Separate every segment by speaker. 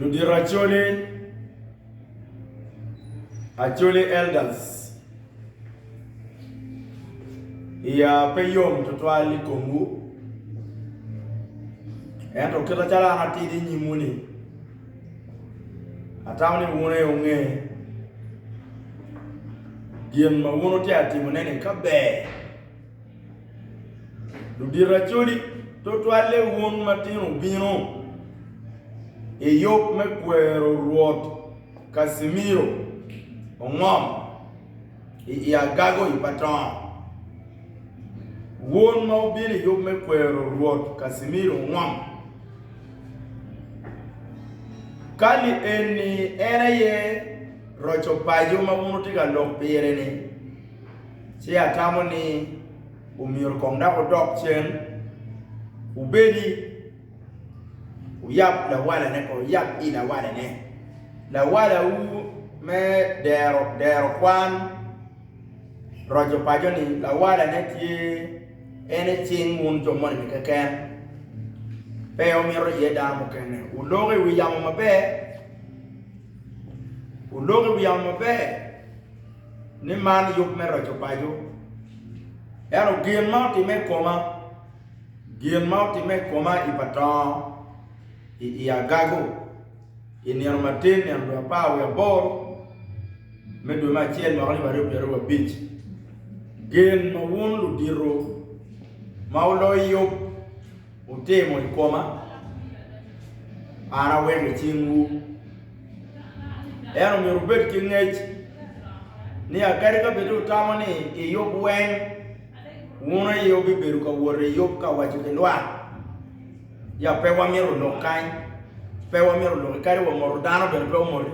Speaker 1: Ludito Acholi, Acholi Elders, iya pe yom tutwal i komwu, ento kite calo an atidi i nyimwu-ni, atamo ni wun aye wunge gin ma wun wutye ka timone-ni ka ber. Ludiracodi tutwalle wun matino bino i yub me kwero Rwot Casimiro ongom i agago i Patong. Wun ma wubino i yub me kwero Rwot Casimiro ongom, kali eni en aye roco paco ma wun wutye ka lok pire-ni. Ci atamo ni omyero kong dok wudok cen, wubedi, wuyab lawalane kong, wuyab i lawalane. Lawalawu me dero, dero kwan, roco paco ni lawalane tye en i cing wun jo moni-ni keken, pe omito iye dano mukene. Wuloko i wi yamo maber, wuloko i wi yamo maber. ni man yub me roco paco. Ento gin ma otimme i koma, gin ma otimme i koma i pa tongo i i agago i nino matin, nino dwe apar wiye aboro me dwe me acel mwaka alip aryo pyeraryo abic. Gin ma wun ludito ma wuloyo yub wutimo i koma, an aweko i cingwu. En omyero wubed ki ngec ni kadi ka bed wutamo ni i yub weng, wun aye wubibedo ka wot i yub ka waco ki lwak ya pe wamito lok kany, pe wamito lok-ki kadi wa moto dano bene pe omoti.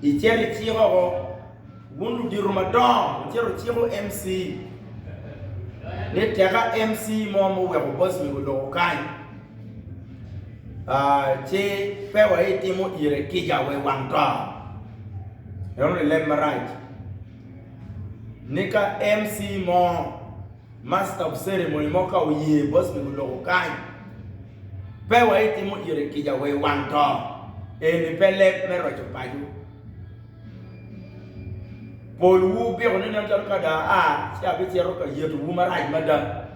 Speaker 1: Icito icik oko, wun ludito madongo wucito wuciko MC ni teka MC mo ma oweko boss mego oloko kany, ci pe waitimo ire kica wa i wang to, ento lilem marac ni ka MC mo, master of ceremony, mo ka oye boss pi guloko kany, pe waitimo ire kica wa i wang to, eni pe leb me roco paco, pol wu biko ni nen calo ka dong aa ci abicito ka yetowu marac mada.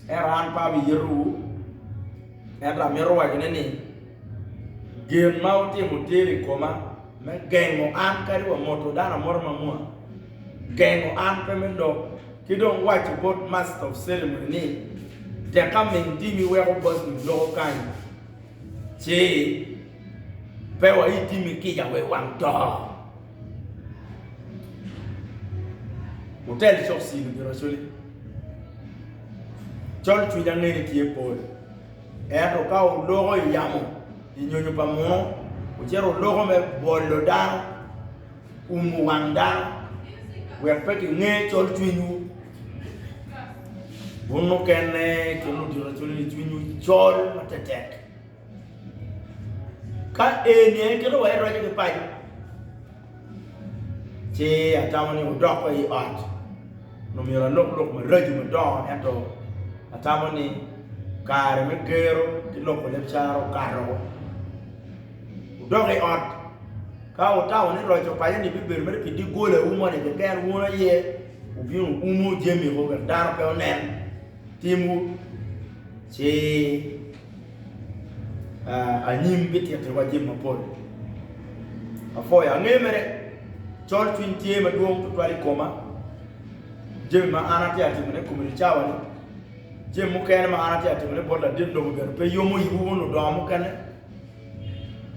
Speaker 1: Ento an pe abiyetowu, ento amito wacone ni, gin ma wutimo tyer i koma me gengo an kadi wa moto dano amota ma mwaa, gengo an pe me dok, ki dong waco bot Master of Ceremony ni, Tek aming tim iweko bossni loko kany, ci pe wa itim ikica wa i wang to. Wutel cok cilo giracoli. Col cwiny angene tye pol. Ento ka wuloko i yamo, i nyonyo pa muno, wucito wuloko me bolo dano, umo wang dano, wek pe kinge col cwinywu. Wun mukene ki ludiracoli-ni cwinywu col matetek. Ka eni aye kite ma iroco ki paco, ci atamo ni wudok wa i ot nyo myero alok lok maraco madongo ento atamo ni kare me gero ki loko leb caro okato woko, wudok i ot ka wutamo ni roco paco ni bibedo mere pi doggolawu moni keken wun aye wubin wuumo jamiwu wek dano pe onen timwu ci Anyim bitittiwa jami mapol. Apwoyo ange mere. Colcwiny tye madwong tutwal i koma. Jami ma an atye ka timone i kom eni cawani, jami mukene ma an atye ka timone bot ladit lobo bene pe yomo iwu wun ludongo mukene.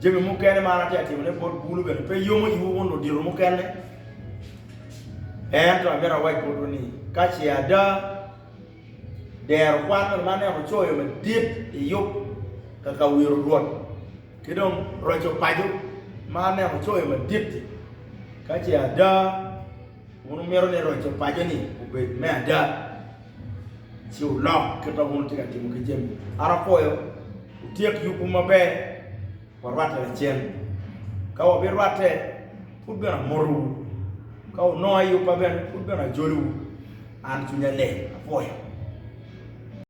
Speaker 1: Jami mukene ma an atye ka timone bot bulu bene pe yomo iwu wun ludito mukene. Ento amito awac botwu ni ka ce ada Dero kwan ma ne ocoyo madit i yub ka ka wiro rwot ki dong roco paco ma ne ocoyo madit-ti. Ka ce ada, wun wumito ni roco paco-ni obed me ada, ci wulok kit ma wun wutye ka timo ki jami. An apwoyo, wutyek yubwu maber. Warwatte lacen. Ka wabirwatte, pud bene amotowu. Ka wunonga i yubba bene, pud bene ajoliwu. An cwinya leng, apwoyo.